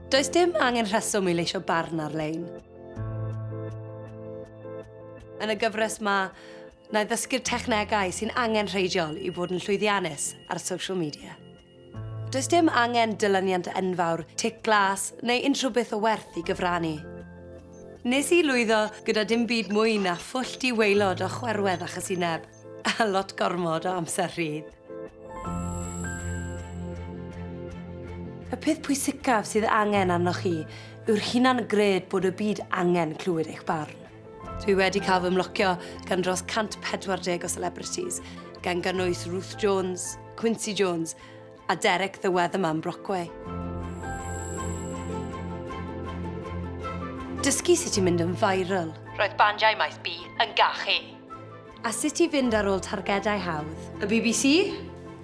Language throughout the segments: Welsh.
Does dim angen rheswm i leisio barn ar-lein. Yn y gyfres ma, na i ddysgu'r technegau sy'n angen rheidiol i fod yn llwyddiannus ar social media. Does dim angen dylyniant enfawr, tic glas neu unrhyw beth o werth i gyfrannu. Nes i lwyddo gyda dim byd mwy na phwll di-waelod o chwerwedd a chysineb, a lot gormod o amser rhydd. Y peth pwysicaf sydd angen arnoch chi yw'r hunan gred bod y byd angen clywed eich barn. Dwi wedi cael fy mlocio gan dros 140 o celebrities, gan gynnwys Ruth Jones, Quincy Jones a Derek the Weatherman Brockway. Dysgu sut i mynd yn viral. Roedd bandiau maes B yn gachu. A sut i fynd ar ôl targedau hawdd. Y bbc,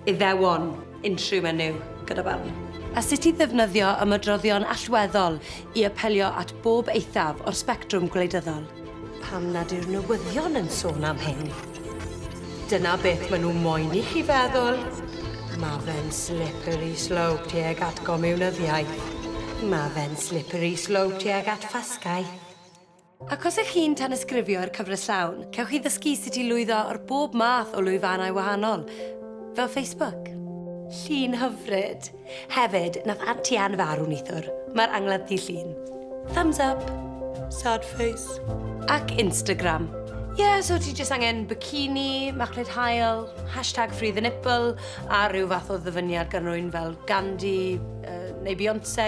Iddewon. Unrhyw menyw gyda barn. A sut i ddefnyddio ymadroddion allweddol i apelio at bob eithaf o'r sbectrwm gwleidyddol. Pam nad yw'r newyddion yn sôn am hyn? Dyna beth maen nhw moyn i chi feddwl. Ma fe'n slippery slope tuag at gomiwnyddiaeth. Ma fe'n slippery slope tuag at ffasgaeth. Ac os ych chi'n tanysgrifio i'r cyfres llawn, cewch chi ddysgu sut i lwyddo ar bob math o lwyfannau wahanol, fel Facebook. Llun hyfryd! Hefyd, nath Auntie Anne farw neithwr. Mae'r angladd ddydd Llun. Thumbs up! Sad face. Ac Instagram. Ie, so ti jyst angen bikini, machlud hael, hashtag free the nipple, a rhyw fath o ddyfyniad gan rywun fel Gandhi, yy, neu Beyonce.